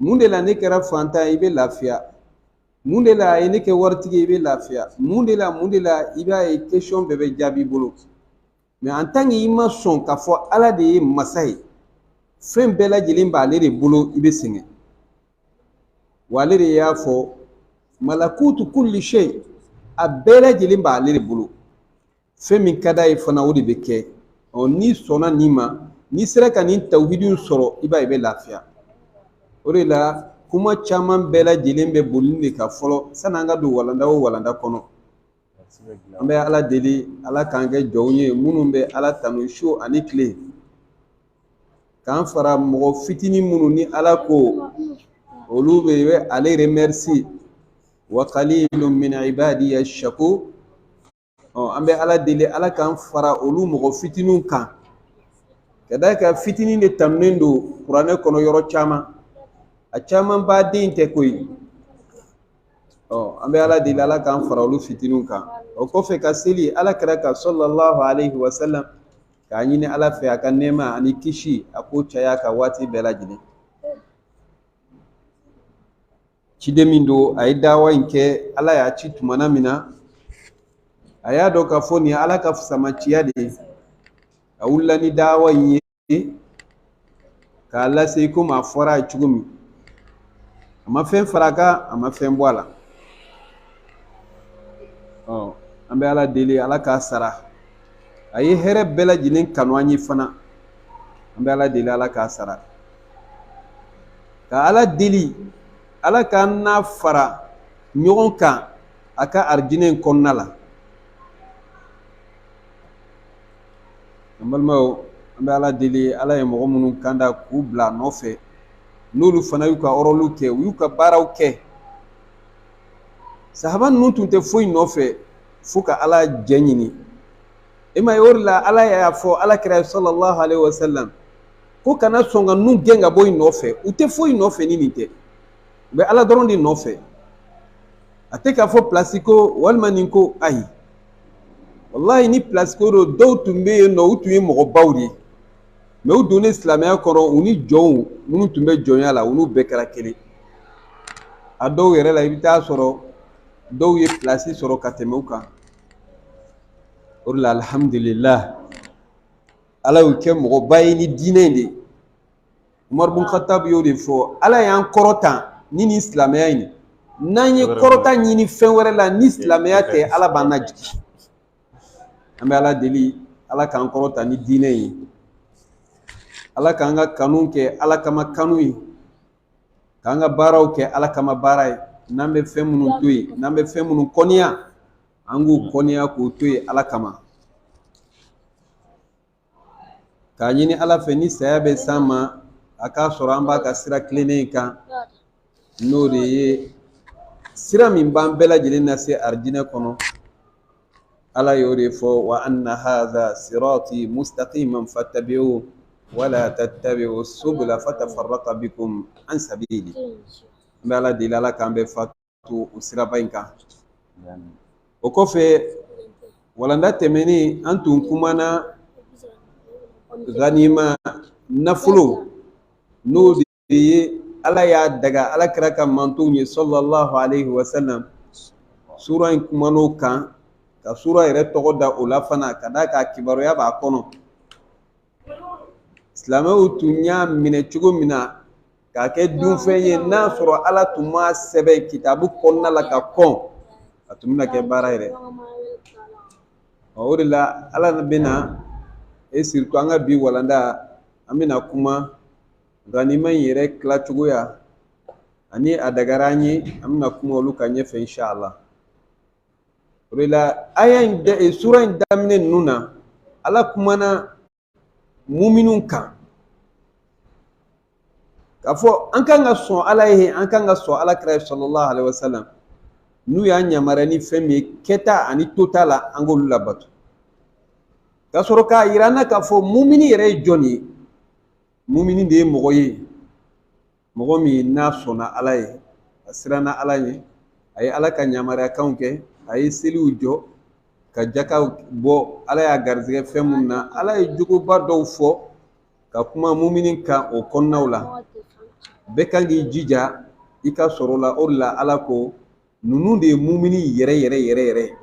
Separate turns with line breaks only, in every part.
mun de la ne kɛra fantan ye i bɛ lafiya mun de la a ye ne kɛ waritigi ye i bɛ lafiya mun de la mun de la i b'a ye kɛsiyɔn bɛɛ bɛ jaabi bolo mɛ an tan ki i ma sɔn k'a fɔ ala de ye masa ye fɛn bɛɛ lajɛlen b'ale de bolo i bɛ sɛgɛn wa ale de y'a fɔ malakutu kulli shay a bɛɛ lajɛlen b'ale de bolo fɛn min ka d'a ye fana o de bɛ kɛ ɔ n'i sɔnna nin ma n'i sera ka nin tawuhidiw sɔrɔ i b'a ye i bɛ lafiya o de la kuma caman bɛɛ lajɛlen bɛ boli nin de kan fɔlɔ san'an ka don walanda o walanda kɔnɔ an bɛ ala deli ala k'an kɛ jɔnw ye minnu bɛ ala tanu su ani tile k'an fara mɔgɔ fitinin minnu ni ala ko olu de bɛ ale remɛrisi wa qalilun min ibadiya shakur an bɛ ala deli ala k'an fara olu mɔgɔ fitininw kan ka d'a kan fitinin de tanunen don kuranɛ kɔnɔ yɔrɔ caman a camanba de tɛ koyi ɔ an bɛ ala deli ala k'an fara olu fitininw kan o kɔfɛ ka seli ala kira kan sallallahu alayhi wa sallam k'a ɲini ala fɛ a ka nɛɛma ani kisi a k'o caya a kan waati bɛɛ lajɛlen ciden min don a ye dawa in kɛ ala y'a ci tumana min na a y'a dɔn k'a fɔ nin ye ala ka fusamaciya de ye a wulila ni dawa in ye k'a lase i komi a fɔra a ye cogo min a ma fɛn fara a kan a ma fɛn bɔ a la ɔ an bɛ ala deli ala k'a sara a ye hɛrɛ bɛɛ lajɛlen kanu an ye fana an bɛ ala deli ala k'a sara ka ala deli ala k'an n'a fara ɲɔgɔn kan a ka arijinɛ in kɔnɔna la an balimaw an bɛ ala deli ala ye mɔgɔ minnu kanda k'u bila a nɔfɛ n'olu fana y'u ka ɔrɔliw kɛ u y'u ka baaraw kɛ sahaba ninnu tun tɛ foyi nɔfɛ fo ka ala jɛ ɲini e m'a ye o de la ala y'a fɔ ala kira sallallahu alaihi wasallam ko kana sɔn ka nun gɛn ka bɔ i nɔfɛ u tɛ foyi nɔfɛ ni nin tɛ u bɛ ala dɔrɔn de nɔfɛ a tɛ k'a fɔ pilasi ko walima nin ko ayi walayi ni pilasi ko don dɔw tun bɛ yen nɔ u tun ye mɔgɔbaw de ye mɛ u donnen silamɛya kɔnɔ u ni jɔnw minnu tun bɛ jɔnya la olu bɛɛ kɛra kelen a dɔw yɛrɛ la i bɛ taa sɔrɔ dɔw ye pilasi sɔrɔ ka tɛmɛ u kan o de la alihamudulila ala y'u kɛ mɔgɔba ye ni diinɛ in de ye umaribun katabu y'o de fɔ ala y'an kɔrɔta ni nin silamɛya in n'an ye kɔrɔta ɲini fɛn wɛrɛ la ni silamɛya tɛ ala b'an najigin an bɛ ala deli ala k'an kɔrɔta ni diinɛ ye ala k'an ka kanu kɛ ala kama kanu ye k'an ka baaraw kɛ ala kama baara ye n'an bɛ fɛn minnu to yen n'an bɛ fɛn minnu kɔniya an k'u kɔniya k'u to yen ala kama k'a ɲini ala fɛ ni saya bɛ s'an ma a k'a sɔrɔ an b'a ka sira tilennen in kan n'o de ye sira min b'an bɛɛ lajɛlen nase arijinɛ kɔnɔ ala y'o de fɔ wa anna hadha sirati mustaqiman fattabi'u wala tattabi'u subula fatafarraqa bikum an sabili n bɛ ala deli ala k'an bɛɛ fa to o siraba in kan o kɔfɛ walanda tɛmɛnen an tun kumana ganima nafolo n'o de ye ala y'a daga ala kira ka mantonw ye salalahu alaihi wa sallam sura in kuman'o kan ka sura yɛrɛ tɔgɔ da o la fana ka d'a kan kibaruya b'a kɔnɔ silamɛw tun y'a minɛ cogo min na k'a kɛ dunfɛn ye n'a sɔrɔ ala tun m'a sɛbɛn kitabu kɔnɔna la ka kɔn a tun bɛna kɛ baara yɛrɛ o de la ala bɛna e siritu an ka bi walanda an bɛna kuma ganima in yɛrɛ tilacogoya ani a dagara an ye an bɛna kuma olu kan ɲɛfɛ inshala o de la aya in da eh, sura in daminɛ ninnu na ala kumana muminun kan k'a fɔ an kan ka sɔn ala ye an kan ka sɔn ala kira ye salalahu alaihi wasallam n'u y'an yamaruya ni fɛn min ye kɛta ani tota la an k'olu labato ka sɔrɔ k'a yira an na k'a fɔ mumini yɛrɛ ye jɔn ye mumini de ye mɔgɔ ye mɔgɔ min n'a sɔnna ala ye a siranna ala ye a ye ala ka yamariyakanw kɛ a ye seliw jɔ ka jaka bɔ ala y'a garijɛgɛ fɛn minnu na ala ye jogoba dɔw fɔ ka kuma mumini kan o kɔnɔnaw la bɛɛ kan k'i jija i ka sɔrɔ la o de la ala ko ninnu de ye mumini yɛrɛ yɛrɛ yɛrɛ yɛrɛ ye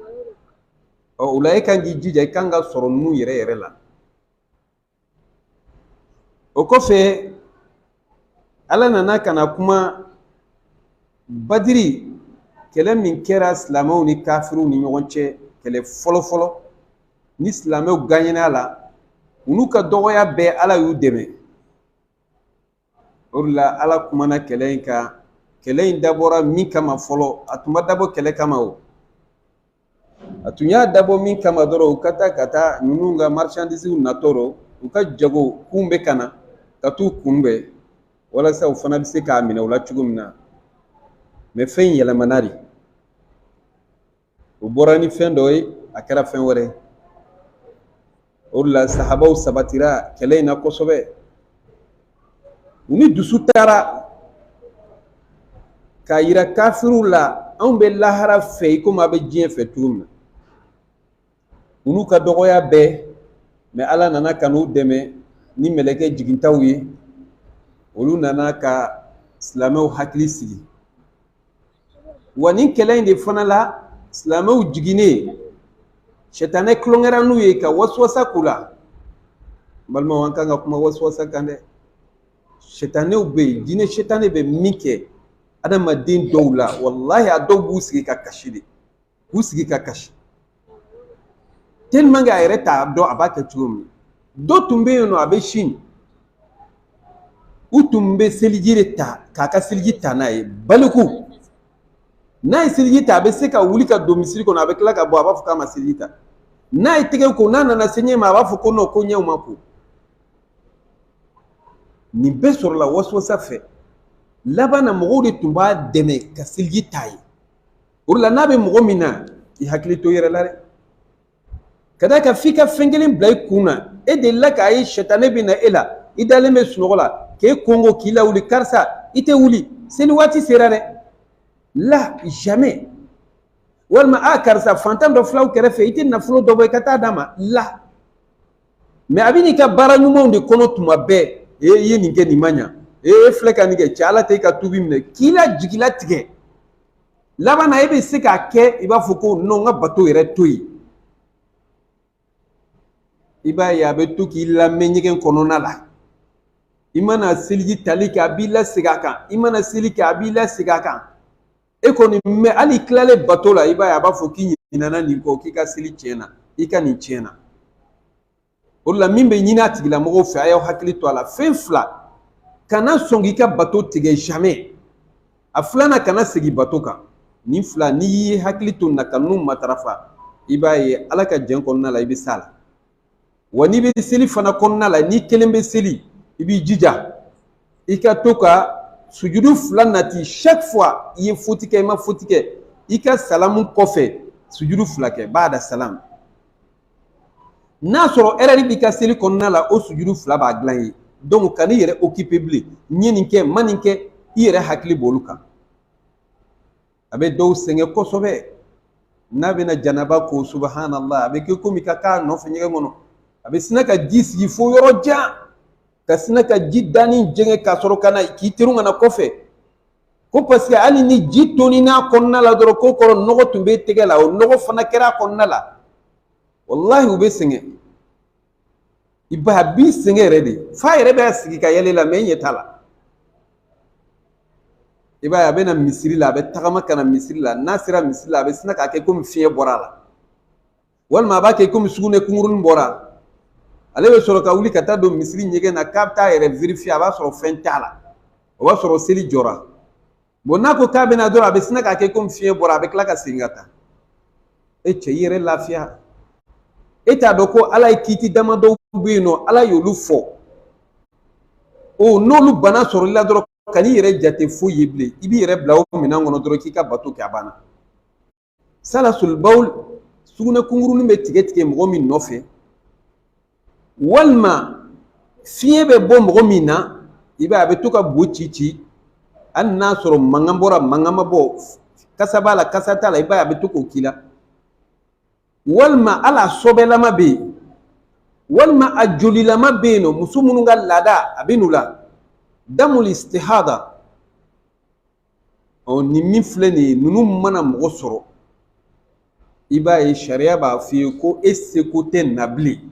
ɔ o la e kan k'i jija i kan ka sɔrɔ ninnu yɛrɛ yɛrɛ la o kɔfɛ ala nana ka na kuma badiri kɛlɛ min kɛra silamɛw ni kafiriw ni ɲɔgɔn cɛ kɛlɛ fɔlɔfɔlɔ ni silamɛw gaɲɛn'a la u n'u ka dɔgɔya bɛɛ ala y'u dɛmɛ o de la ala kumana kɛlɛ in kan kɛlɛ in dabɔra min kama fɔlɔ a tun ma dabɔ kɛlɛ kama o a tun y'a dabɔ min kama dɔrɔn u ka taa ka taa ninnu ka marchandisiw natɔ rɔ u ka jagokun bɛ ka na ka t'u kunbɛn walasa u fana bɛ se k'a minɛ u la cogo min na mɛ fɛn in yɛlɛmana de u bɔra ni fɛn dɔ ye a kɛra fɛn wɛrɛ ye o de la sahabaw sabatira kɛlɛ in na kosɛbɛ u ni dusu taara k'a yira kafiriw la anw bɛ lahara fɛ i komi a bɛ diɲɛ fɛ cogo min na olu ka dɔgɔya bɛɛ mɛ ala nana ka n'u dɛmɛ ni mɛlɛkɛ jigintaw ye olu nana ka silamɛw hakili sigi wa nin kɛlɛ in de fana la silamɛw jiginnen sɛtanɛ tulonkɛra n'u ye ka wasuwasa k'u la n balimaw an kan ka kuma wasuwasa kan dɛ sɛtanɛw bɛ yen jinɛ sɛtanɛ bɛ min kɛ adamaden dɔw la walahi a dɔw b'u sigi ka kasi de k'u sigi ka kasi tigilamɔgɔ yɛrɛ t'a dɔn a b'a kɛ cogo min dɔ tun bɛ yen nɔ a bɛ sin u tun bɛ seliji de ta k'a ka seliji ta n'a ye baliku n'a ye seliji ta a bɛ se ka wuli ka don misiri kɔnɔ a bɛ tila ka bɔ a b'a fɔ k'a ma seliji ta n'a ye tɛgɛ ko n'a nana se ɲɛ ma a b'a fɔ ko non ko ɲɛw ma ko nin bɛɛ sɔrɔla waswasa fɛ laban na mɔgɔw de tun b'a dɛmɛ ka seliji t'a ye o de la n'a bɛ mɔgɔ min na i hakili to i yɛrɛ la dɛ ka d'a kan f'i ka fɛn kelen bila i kun na e delila k'a ye sɛtanɛ bɛ na e la i dalen bɛ sunɔgɔ la k'i konkon k'i lawuli karisa i tɛ wuli seli waati sera dɛ la jamais walima a karisa fantan dɔ fil'aw kɛrɛfɛ i tɛ nafolo dɔ bɔ i ka taa d'a ma la mɛ a bɛ n'i ka baara ɲumanw de kɔnɔ tuma bɛɛ e i ye nin kɛ nin ma ɲa e e filɛ ka nin kɛ cɛ ala tɛ i ka tubi minɛ k'i la jigilatigɛ laban na e bɛ se k'a kɛ i b'a fɔ ko non n ka bato yɛrɛ to yen i b'a ye a bɛ to k'i lamɛɛn ɲɛgɛn kɔnɔna la i mana seliji tali kɛ a b'i lasegin a kan i mana seli kɛ a b'i lasegin a kan e kɔni mɛ hali tilalen bato la i b'a ye a b'a fɔ k'i ɲinana nin kɔ k'i ka seli tiɲɛna i ka nin tiɲɛna o de la min bɛ ɲini a tigilamɔgɔw fɛ a y'aw hakili to a la fɛn fila kana sɔn k'i ka bato tigɛ jamais a filanan kana segin bato kan nin fila n'i y'i hakili to na ka ninnu matarafa i b'a ye ala ka jɛn kɔnɔna la i bɛ s'a la wa n'i bɛ seli fana kɔnɔna la n'i kelen bɛ seli i b'i jija i ka to ka sujudu fila nati chaque fois i ye foti kɛ i ma foti kɛ i ka salamu kɔfɛ sujudu fila kɛ ba'da salamu n'a sɔrɔ ɛrɛri b'i ka seli kɔnɔna la o sujudu fila b'a dilan ye donc kan'i yɛrɛ okipe bilen n ye nin kɛ n ma nin kɛ i yɛrɛ hakili b'olu kan a bɛ dɔw sɛgɛn kosɛbɛ n'a bɛna janaba ko subahanala a bɛ kɛ komi ka k'a nɔfɛ ɲɛgɛn kɔnɔ a bɛ sina ka ji sigi fo yɔrɔ jan ka sina ka ji daanin jɛngɛ ka sɔrɔ ka na k'i terun ka na kɔfɛ ko paseke hali ni ji tonin'a kɔnɔna la dɔrɔn k'o kɔrɔ nɔgɔ tun bɛ tɛgɛ la o nɔgɔ fana kɛra a kɔnɔna la walahi u bɛ sɛgɛn i b'a ye a b'i sɛgɛn yɛrɛ de f'a yɛrɛ bɛ sigi ka yɛl'a la mɛ i ɲɛ t'a la i b'a ye a bɛ na misiri la a bɛ tagama ka na misiri la n'a sera misiri la a bɛ sina k'a kɛ komi fiɲɛ bɔra a la walima a b'a kɛ komi sugunɛ kunkurunin bɔra ale bɛ sɔrɔ ka wuli ka taa don misiri ɲɛgɛn na k'a bɛ taa a yɛrɛ verifiye a b'a sɔrɔ fɛn t'a la o b'a sɔrɔ seli jɔra bɔn n'a ko k'a bɛna dɔrɔn a bɛ sina k'a kɛ komi fiɲɛ bɔra a bɛ tila ka segin ka taa e cɛ i yɛrɛ lafiya e t'a dɔn ko ala ye kiiti damadɔw bɛ yen nɔ ala y'olu fɔ o n'olu bana sɔrɔl'i la dɔrɔn kan'i yɛrɛ jate foyi ye bilen i b'i yɛrɛ bila o minɛn kɔnɔ dɔrɔn k'i ka bato kɛ a banna salasul bawl sugunɛ kunkurunin bɛ tigɛ tigɛ mɔgɔ min nɔfɛ walima fiɲɛ bɛ bɔ mɔgɔ min na i b'a ye a bɛ to ka bo ci ci hali n'a sɔrɔ mankan bɔra mankan ma bɔ kasa b'a la kasa t'a la i b'a ye a bɛ to k'o k'i la walima hali a sɔbɛlama bɛ yen walima a jolilama bɛ yen nɔ muso minnu ka laada a bɛ n'u la damul istihada ɔ nin min filɛ nin ye ninnu mana mɔgɔ sɔrɔ i b'a ye sariya b'a f'i ye ko e seko tɛ na bilen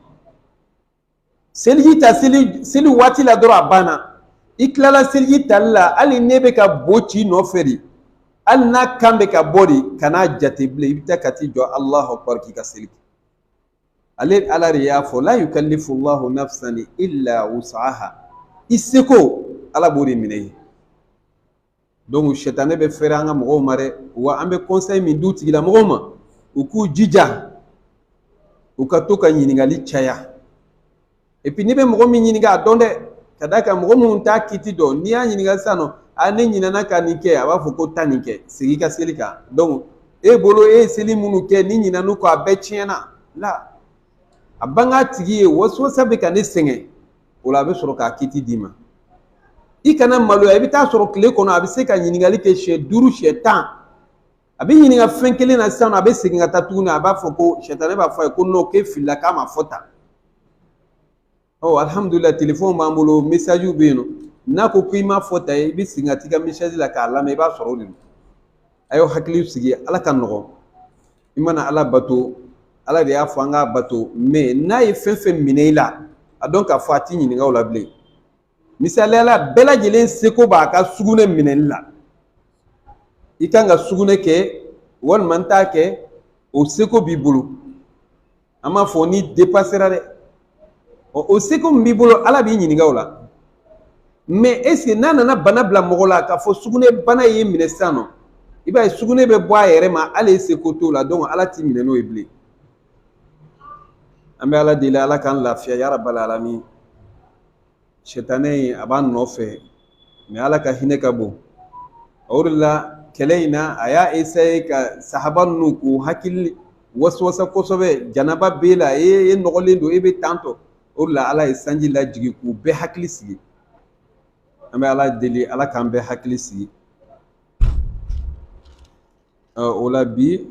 seliji ta seli seli waati la dɔrɔn a banna i tilala seliji tali la hali n'e bɛ ka bo ci i nɔfɛ de hali n'a kan bɛ ka bɔ de kan'a jate bilen i bɛ taa ka t'i jɔ alahu akbar k'i ka seli kɛ ale ala de y'a fɔ la yukallifu llahu nafsan illa wus'aha i seko ala b'o de minɛ i ye donc sɛtanɛ bɛ fɛrɛ an ka mɔgɔw ma dɛ wa an bɛ conseil min d'u tigilamɔgɔw ma u k'u jija u ka to ka ɲininkali caya epi n'i bɛ mɔgɔ min ɲininka a dɔn dɛ ka d'a kan mɔgɔ minnu t'a kiiti dɔn n'i y'a ɲininka sisan nɔ a ne ɲinɛna ka nin kɛ a b'a fɔ ko taa nin kɛ segin i ka seli kan donc e bolo e ye seli minnu kɛ n'i ɲinɛn'u kɔ a bɛɛ tiɲɛna la a bang'a tigi ye waswasa bɛ ka ne sɛgɛn o la a bɛ sɔrɔ k'a kiiti d'i ma i kana maloya i bɛ t'a sɔrɔ tile kɔnɔ a bɛ se ka ɲininkali kɛ siɲɛ duuru siɲɛ tan a bɛ ɲininka fɛn kelen na sisan a bɛ segin ka taa tuguni a b'a fɔ ko sitanɛ b'a fɔ a ye ko nɔ k'e filila k'a ma fɔ tan ɔ alihamudulila telefɔni b'an bolo mesajiw bɛ yen nɔ n'a ko k'i m'a fɔ tan ye i bɛ segin ka t'i ka mesaji la k'a lamɛn i b'a sɔrɔ o de don a y'aw hakili sigi ala ka nɔgɔn i mana ala bato ala de y'a fɔ an k'a bato mɛ n'a ye fɛn fɛn minɛ i la a dɔn k'a fɔ a t'i ɲininka o la bilen misaliyala bɛɛ lajɛlen seko b'a ka sugunɛ minɛli la i kan ka sugunɛ kɛ walima n t'a kɛ o seko b'i bolo an m'a fɔ n'i depasera dɛ ɔ o seko min b'i bolo ala b'i ɲininka o la mɛ eseke n'a nana bana bila mɔgɔ la k'a fɔ sugunɛ bana y'i minɛ sisan nɔ i b'a ye sugunɛ bɛ bɔ a yɛrɛ ma hali e seko t'o la donc ala t'i minɛ n'o ye bilen an bɛ ala deli ala k'an lafiya yarabal alamin Sitanɛ in a b'an nɔfɛ mɛ ala ka hinɛ ka bon o de la kɛlɛ in na a y'a esaye ka sahaba ninnu k'u hakili waswasa kosɛbɛ janaba b'e la e e nɔgɔlen don e bɛ tantɔ o de la ala ye sanji lajigin k'u bɛɛ hakili sigi an bɛ ala deli ala k'an bɛɛ hakili sigi ɔ o la bi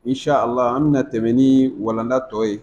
insha allah an bɛna tɛmɛ ni walanda tɔ ye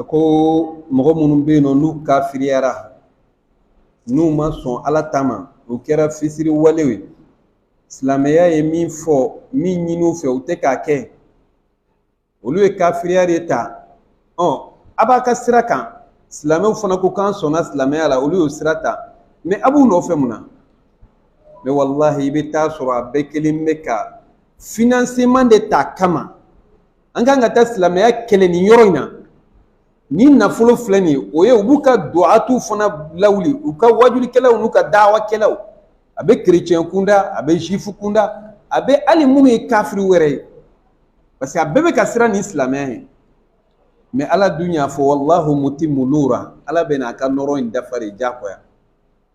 a ko mɔgɔ minnu bɛ yen nɔ n'u kafiriyara n'u ma sɔn ala ta ma u kɛra fisiriwalew ye silamɛya ye min fɔ min ɲini u fɛ u tɛ k'a kɛ olu ye kafiriya de ta ɔ a b'a ka sira kan silamɛw fana ko k'an sɔnna silamɛya la olu y'o sira ta mɛ a b'u nɔfɛ mun na mɛ walahi i bɛ t'a sɔrɔ a bɛɛ kelen bɛ ka finanseman de t'a kama an kan ka taa silamɛya kɛlɛ nin yɔrɔ in na ni nafolo filɛ nin ye o ye u b'u ka duwatu fana lawuli u ka waajulikɛlaw n'u ka dawakɛlaw a bɛ kerecɛn kunda a bɛ zuwifu kunda a bɛ hali minnu ye kafiri wɛrɛ ye parce que a bɛɛ bɛ ka siran nin silamɛya ɲɛ mɛ ala dun y'a fɔ walahu mutimu nura ala bɛn'a ka nɔrɔ in dafa de diyagoya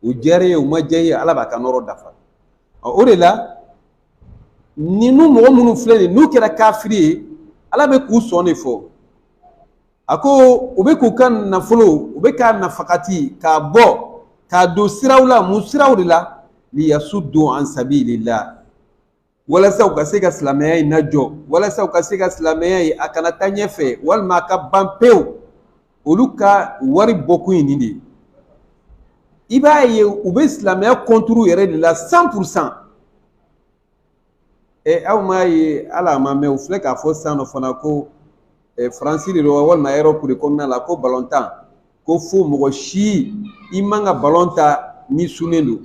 a diyar'i ye o ma diya i ye ala b'a ka nɔrɔ dafa o de la ninnu mɔgɔ minnu filɛ nin ye n'u kɛra kafiri ye ala bɛ k'u sɔn de fɔ a ko u bɛ k'u ka nafolo u bɛ k'a nafakati k'a bɔ k'a don siraw la mun siraw de la liyasudu an sabilila walasa u ka se ka silamɛya in najɔ walasa u ka se ka silamɛya in a kana taa ɲɛfɛ walima a ka ban pewu olu ka wari bɔkun ye nin de ye i b'a ye u bɛ silamɛya kɔnturu yɛrɛ de la cent pour cent ɛ aw m'a ye hali a ma mɛn u filɛ k'a fɔ san nɔ fana ko ɛ faransi de don walima erɔpu de kɔnɔna la ko balontan ko fo mɔgɔ si i man ka balon tan n'i sunnen don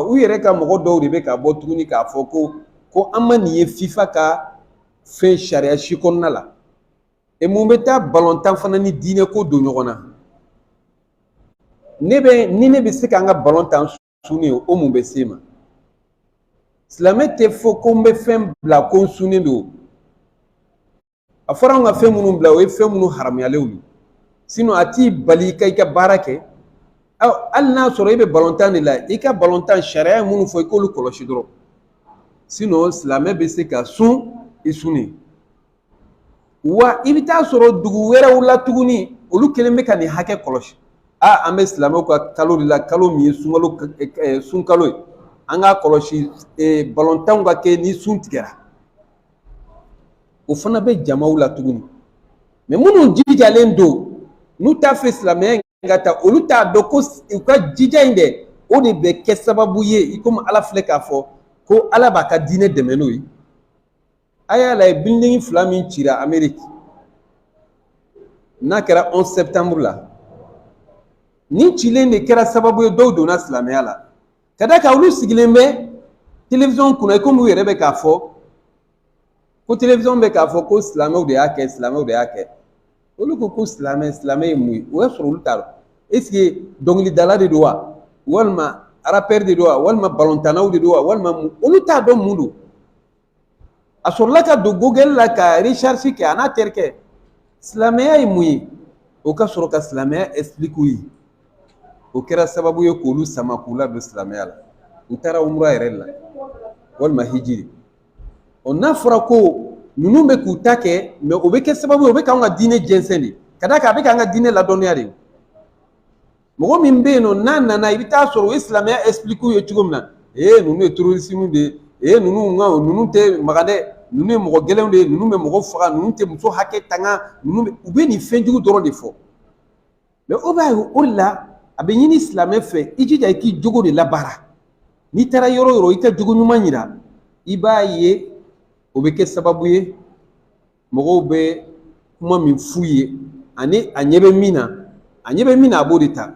u yɛrɛ ka mɔgɔ dɔw de bɛ ka bɔ tuguni k'a fɔ ko ko an ma nin ye fifa ka fɛn sariya si kɔnɔna la e mun bɛ taa balontan fana ni diinɛ ko don ɲɔgɔn na ne bɛ ni ne bɛ se ka n ka balon tan sunnen o mun bɛ se ma silamɛ tɛ fɔ ko n bɛ fɛn bila ko n sunnen don a fɔra an ka fɛn minnu bila o ye fɛn minnu haramuyalenw ye sinɔn a t'i bali i ka i ka baara kɛ hali n'a sɔrɔ i bɛ balontan de la i ka balon tan sariya ye minnu fɔ i k'olu kɔlɔsi dɔrɔn sinɔn silamɛ bɛ se ka sun i sunnen wa i bɛ t'a sɔrɔ dugu wɛrɛw la tuguni olu kelen bɛ ka nin hakɛ kɔlɔsi a an bɛ silamɛw ka kalo de la kalo min ye sunkalo sunkalo ye an k'a kɔlɔsi balontanw ka kɛ ni sun tigɛra o fana bɛ jamaw la tuguni mɛ minnu jijalen don n'u t'a fɛ silamɛya ka taa olu t'a dɔn ko u ka jija in dɛ o de bɛ kɛ sababu ye i komi ala filɛ k'a fɔ ko ala b'a ka diinɛ dɛmɛ n'o ye a y'a lajɛ bilidingi fila min cira ameriki n'a kɛra 11 septembre la nin cilen de kɛra sababu ye dɔw donna silamɛya la ka d'a kan olu sigilen bɛ telewisɔn kunna i komi u yɛrɛ bɛ k'a fɔ ko telewisɔn bɛ k'a fɔ ko silamɛw de y'a kɛ silamɛw de y'a kɛ olu ko ko silamɛ silamɛ ye mun ye o y'a sɔrɔ olu t'a dɔn esike dɔnkilidala de don wa walima arapɛri de don wa walima balontannaw de don wa walima mun olu t'a dɔn mun don a sɔrɔla ka don google la ka recherche kɛ a n'a terikɛ silamɛya ye mun ye o ka sɔrɔ ka silamɛya expliquer u ye o kɛra sababu ye k'olu sama k'u ladon silamɛya la n taara umura yɛrɛ la walima hiji ɔ n'a fɔra ko ninnu bɛ k'u ta kɛ mɛ o bɛ kɛ sababu ye o bɛ k'an ka diinɛ jɛnsɛn de ka d'a kan a bɛ k'an ka diinɛ ladɔnniya de mɔgɔ min bɛ yen nɔ n'a nana i bɛ t'a sɔrɔ u ye silamɛya ɛsipiliki u ye cogo min na ee ninnu ye terorisimu de ye ee ninnu nka ninnu tɛ magan dɛ ninnu ye mɔgɔ gɛlɛnw de ye ninnu bɛ mɔgɔ faga ninnu tɛ muso hakɛ tanga ninnu bɛ u bɛ nin fɛn jugu dɔrɔn de fɔ mɛ o b'a ye o de la a bɛ ɲini silamɛ fɛ i jija i k'i jogo de labaara n'i taara yɔrɔ yɔrɔ i ka jogo ɲuman yira i b'a ye o bɛ kɛ sababu ye mɔgɔw bɛ kuma min f'u ye ani a ɲɛ bɛ min na a ɲɛ bɛ min na a b'o de ta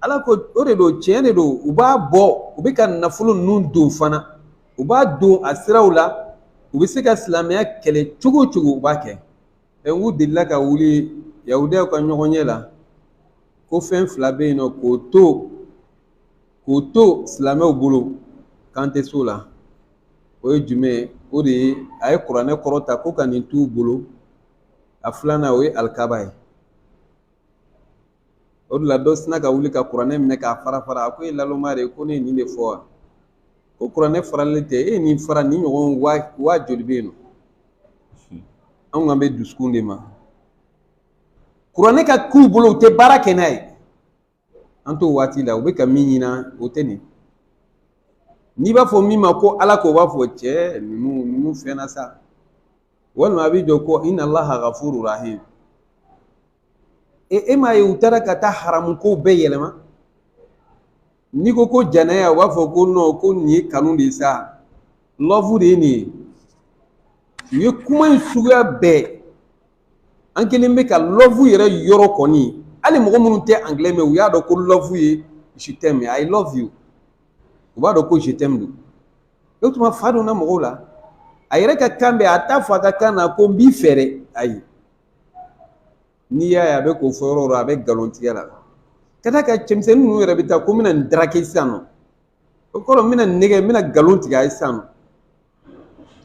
ala ko o de don tiɲɛ de don u b'a bɔ u bɛ ka nafolo ninnu don fana u b'a don a siraw la u bɛ se ka silamɛya kɛlɛ cogo o cogo u b'a kɛ ɛ n k'u delila ka wuli yahudiyaw ka ɲɔgɔnye la ko fɛn fila bɛ yen nɔ k'o to k'o to silamɛw bolo k'an tɛ s'o la o ye jumɛn ye o de ye a ye kuranɛ kɔrɔta ko ka nin t'u bolo a filanan o ye alikaba ye o de la dɔ sina ka wuli ka kuranɛ minɛ k'a fara fara a ko e laloma de ko ne ye nin de fɔ wa ko kuranɛ faralen tɛ e ye nin fara nin ɲɔgɔn waa joli bɛ yen nɔ anw kan bɛ dusukun de ma kuranɛ ka k'u bolo u tɛ baara kɛ n'a ye an t'o waati la u bɛ ka min ɲina o tɛ nin n'i b'a fɔ min ma ko ala k'o b'a fɔ cɛ ninnu ninnu fɛnna sa walima a b'i jɔ ko innallaha gafuru rahim e e m'a ye u taara ka taa haramu kow bɛɛ yɛlɛma n'i ko ko janaya u b'a fɔ ko non ko nin ye kanu de ye sa love de ye nin ye u ye kuma in suguya bɛɛ an kelen bɛ ka love yɛrɛ yɔrɔ kɔni hali mɔgɔ minnu tɛ angilɛ mɛ u y'a dɔn ko love ye je t'aime i love you u b'a dɔn ko je t'aime don o tuma fa donna mɔgɔw la a yɛrɛ ka kan bɛ a t'a fɔ a ka kan na ko n b'i fɛ dɛ ayi n'i y'a ye a bɛ k'o fɔ yɔrɔ yɔrɔ a bɛ nkalon tigɛ la ka d'a kan cɛmisɛnnin ninnu yɛrɛ bɛ taa ko n bɛna nin draguer sisan nɔ o kɔrɔ n bɛna nin nɛgɛ n bɛna nkalon tigɛ a ye sisan nɔ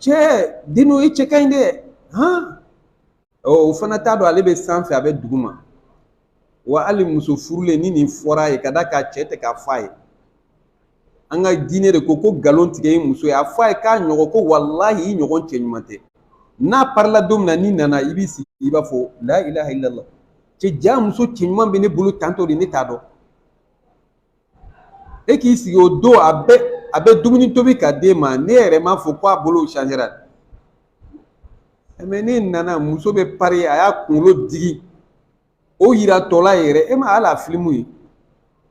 cɛ dino i cɛ ka ɲi dɛ han ɔ o fana t'a dɔn ale bɛ sanfɛ a bɛ duguma wa hali muso furulen ni nin fɔra a ye ka d'a kan cɛ tɛ k'a fɔ a ye an ka diinɛ de ko ko nkalon tigɛ ye muso ye a fɔ a ye k'a ɲɔgɔn ko walahi i ɲɔgɔn cɛ ɲuman tɛ n'a parila don min na n'i nana i b'i sigi i b'a fɔ la ilaha illallah cɛ ja muso cɛ ɲuman bɛ ne bolo tan tɔ de ne t'a dɔn e k'i sigi o don a bɛ a bɛ dumuni tobi ka d'e ma n'e yɛrɛ m'a fɔ ko a bolo changera mɛ n'e nana muso bɛ pari a y'a kunkolo digi o yira tɔla yɛrɛ e ma ala filimu ye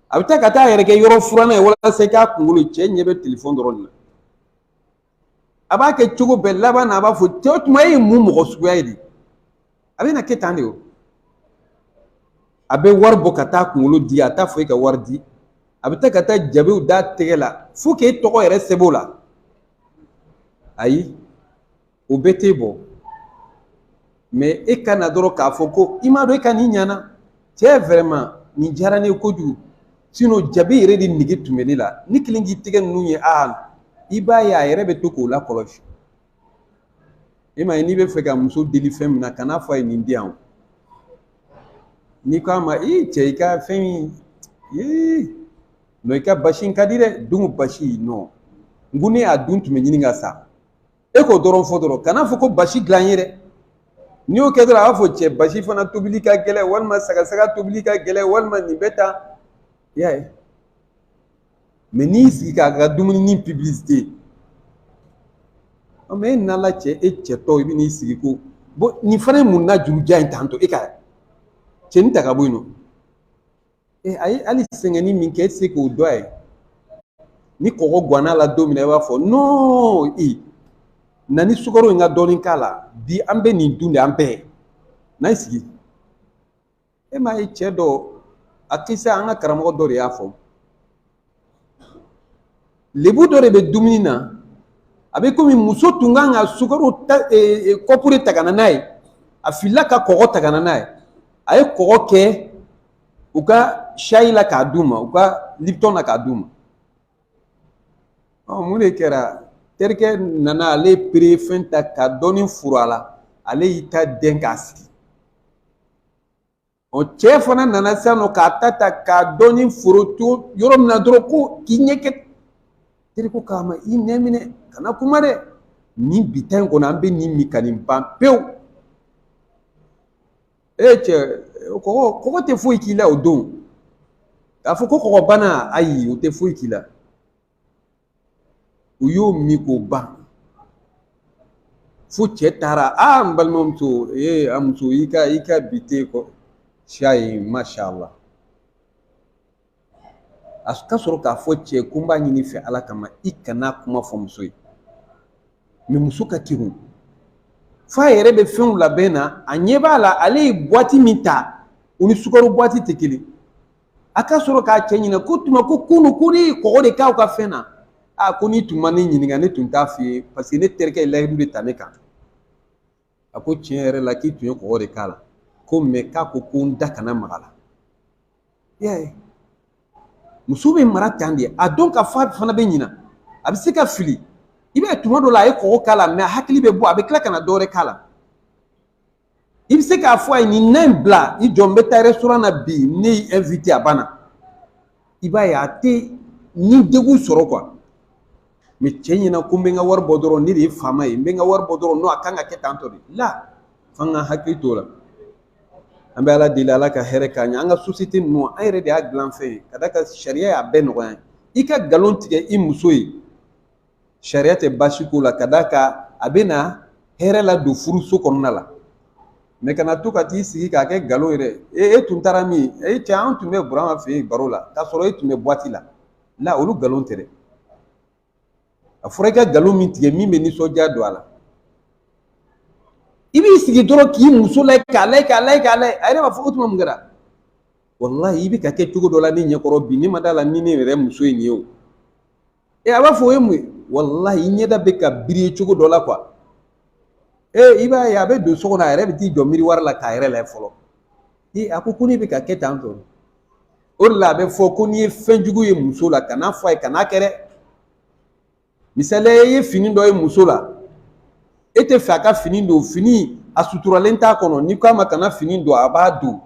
a bɛ taa ka t'a yɛrɛ kɛ yɔrɔ furanna ye walasa i k'a kunkolo cɛ ɲɛ bɛ telefɔni dɔrɔn de la a b'a kɛ cogo bɛɛ laban na a b'a fɔ cɛ o tuma e ye mun mɔgɔ suguya ye de a bɛna kɛ tan de o a bɛ wari bɔ ka t'a kunkolo di a t'a fɔ e ka wari di a bɛ taa ka taa jabiw d'a tɛgɛ la fo k'e tɔgɔ yɛrɛ sɛbɛn o la ayi o bɛɛ tɛ bɔ mɛ e ka na dɔrɔn k'a fɔ ko i m'a dɔn e ka nin ɲana cɛ vɛrɛma nin diyara ne ye kojugu sinɔn jabi yɛrɛ de nege tun bɛ ne la ne kɛlen k'i tɛgɛ ninnu ye a i b'a ye a yɛrɛ bɛ to k'o lakɔlɔsi e m'a ye n'i b'a fɛ ka muso deli fɛn min na kan'a fɔ a ye nin di yan o n'i ko a ma ee cɛ i ka fɛn in ee nɔ i ka basi in ka di dɛ dun basi nɔ n ko ne y'a dun n tun bɛ ɲini ka sa e k'o dɔrɔn fɔ dɔrɔn kan'a fɔ ko basi dilan n ye dɛ n'i y'o kɛ dɔrɔn a b'a fɔ cɛ basi fana tobili ka gɛlɛ walima sagasaga tobili ka gɛlɛ walima nin bɛ tan i y'a ye mɛ n'i y'i sigi k'a ka dumuni nin piblisite mɛ e nana cɛ e cɛ tɔ i bɛ n'i sigi ko bon nin fana ye mun na jurujan ye tan to e ka cɛnin ta ka bɔ yen nɔ e a ye hali sɛgɛn nin min kɛ e tɛ se k'o dɔn a ye ni kɔgɔ gann'a la don min na i b'a fɔ nɔn i na ni sukaro in ka dɔɔnin k'a la bi an bɛ nin dun de an bɛɛ na i sigi e m'a ye cɛ dɔ a kisa an ka karamɔgɔ dɔ de y'a fɔ lebu dɔ de bɛ dumuni na a bɛ komi muso tun kan ka sukaro ta kɔpu de ta ka na n'a ye a filila ka kɔgɔ ta ka na n'a ye a ye kɔgɔ kɛ u ka shayi la k'a d'u ma u ka lipitɔn na k'a d'u ma ɔ mun de kɛra terikɛ nana ale pere fɛn ta ka dɔɔni furu a la ale y'i ta dɛn k'a sigi ɔ cɛ fana nana sisan nɔ k'a ta ta ka dɔɔni foron to yɔrɔ min na dɔrɔn ko k'i ɲɛ kɛ terikɛ ko a ma i nɛn minɛ kana kuma dɛ nin bi ta in kɔnɔ an bɛ nin min ka nin ban pewu e cɛ kɔgɔ kɔgɔ tɛ foyi k'i la o don k'a fɔ ko kɔgɔ bana ayi o tɛ foyi k'i la u y'o min k'o ban fo cɛ taara a n balimamuso ee a muso i ka i ka bi te kɔ siya ye masha Allah a ka sɔrɔ k'a fɔ cɛ ko n b'a ɲini i fɛ ala kama i kana kuma fɔ muso ye mɛ muso ka kegun f'a yɛrɛ bɛ fɛnw labɛn na a ɲɛ b'a la ale ye buwati min ta o ni sukaro buwati tɛ kelen a ka sɔrɔ k'a cɛ ɲininka k'o tuma ko kunun ko ne ye kɔgɔ de k'aw ka fɛn na a ko n'i tun ma ne ɲininka ne tun t'a f'i ye paseke ne terikɛ ye layidu de ta ne kan a ko tiɲɛ yɛrɛ la k'i tun ye kɔgɔ de k'a la ko mɛ k'a ko ko n da kana mag'a la i y'a ye muso bɛ mara tan de a dɔn k'a f'a fana bɛ ɲina a bɛ se ka fili i b'a ye tuma dɔ la a ye kɔgɔ k'a la mɛ a hakili bɛ bɔ a bɛ tila ka na dɔwɛrɛ k'a la i bɛ se k'a fɔ a ye nin na in bila i jɔ n bɛ taa rɛsitoran na bi ne y'i ɛnwite a banna i b'a ye a tɛ ni degun sɔrɔ kuwa mɛ cɛ ɲɛna ko n bɛ n ka wari bɔ dɔrɔn ne de ye faama ye n bɛ n ka wari bɔ dɔrɔn non a kan ka kɛ tantɔ de la f'an k'an hakili t'o la an bɛ ala deli ala ka hɛrɛ k'an ɲɛ an ka sosiyete ninnu an yɛrɛ de y'a dilan fɛn ye ka d'a kan sariya y'a bɛɛ nɔgɔya i ka nkalon tigɛ i muso ye sariya tɛ baasi k'o la ka d'a kan a bɛ na hɛrɛ ladon furuso kɔnɔna la mɛ kana to ka t'i sigi k'a kɛ nkalon yɛrɛ e e tun taara min e cɛ an tun bɛ burama fɛ yen baro la k'a sɔrɔ e tun bɛ buwati la la olu nkalon tɛ dɛ a fɔra i ka nkalon min tigɛ min bɛ nisɔndiya don a la i b'i sigi dɔrɔn k'i muso layɛ k'a layɛ k'a layɛ k'a layɛ a yɛrɛ b'a fɔ o tuma mun kɛra walahi i bɛ ka kɛ cogo dɔ la ne ɲɛkɔrɔ bi ne ma d'a la ni ne yɛrɛ muso ye nin ye o ee a b'a fɔ o ye mun ye walahi i ɲɛda bɛ ka biriye cogo dɔ la kuwa ee i b'a ye a bɛ don so kɔnɔ a yɛrɛ bɛ t'i jɔ miruwari la k'a yɛrɛ layɛ fɔlɔ ee a ko ko ne bɛ ka kɛ tan tɔ o de la a bɛ fɔ ko n'i ye fɛn jugu ye muso la kan'a fɔ a ye kan'a kɛ dɛ misaliya i ye fini dɔ ye muso la e t'a fɛ a ka fini don fini a suturalen t'a kɔnɔ n'i k'a ma kana fini don a b'a don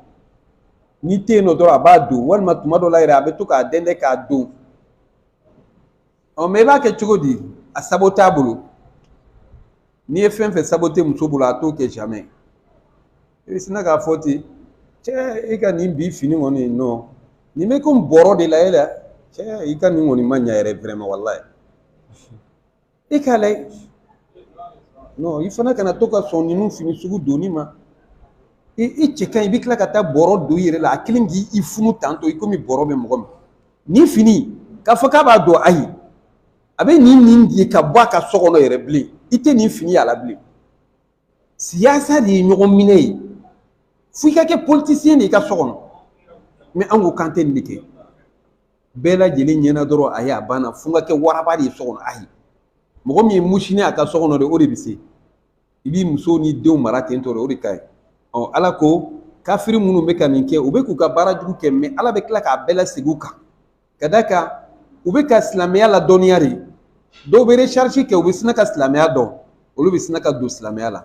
n'i tɛ yen nɔ dɔrɔn a b'a don walima tuma dɔ la yɛrɛ a bɛ to k'a dɛndɛn k'a don ɔ mɛ i b'a kɛ cogo di a sabote a bolo n'i ye fɛn fɛn sabote muso bolo a t'o kɛ jamais i bɛ sina k'a fɔ ten cɛ e ka nin bi fini kɔni nɔ nin bɛ komi bɔrɔ de la e la cɛ i ka nin kɔni ma ɲa yɛrɛ vraiment walayi i k'a layɛ non i fana kana to ka sɔn ninnu fini sugu donni ma i i cɛ ka ɲi i bɛ tila ka taa bɔrɔ don i yɛrɛ la a kelen k'i i funu tantɔ i komi bɔrɔ bɛ mɔgɔ min nin fini k'a fɔ k'a b'a don ayi a bɛ nin nin di ka bɔ a ka so kɔnɔ yɛrɛ bilen i tɛ nin fini y'a la bilen siyasa de ye ɲɔgɔn minɛ ye fo i ka kɛ politisiyɛn de ye i ka so kɔnɔ mɛ an ko k'an tɛ nin de kɛ bɛɛ lajɛlen ɲɛna dɔrɔn a ye a banna fo n ka kɛ waraba de ye so kɔnɔ ayi mɔgɔ min ye musini a ka so kɔnɔ de o de bɛ se i b'i muso ni denw mara ten tɔ de o de ka ɲi ɔ ala ko kafiri minnu bɛ ka min kɛ u bɛ k'u ka baara jugu kɛ mɛ ala bɛ tila k'a bɛɛ lasegin u kan ka d'a kan u bɛ ka silamɛya ladɔnniya de dɔw bɛ resarisi kɛ u bɛ sina ka silamɛya dɔn olu bɛ sina ka don silamɛya la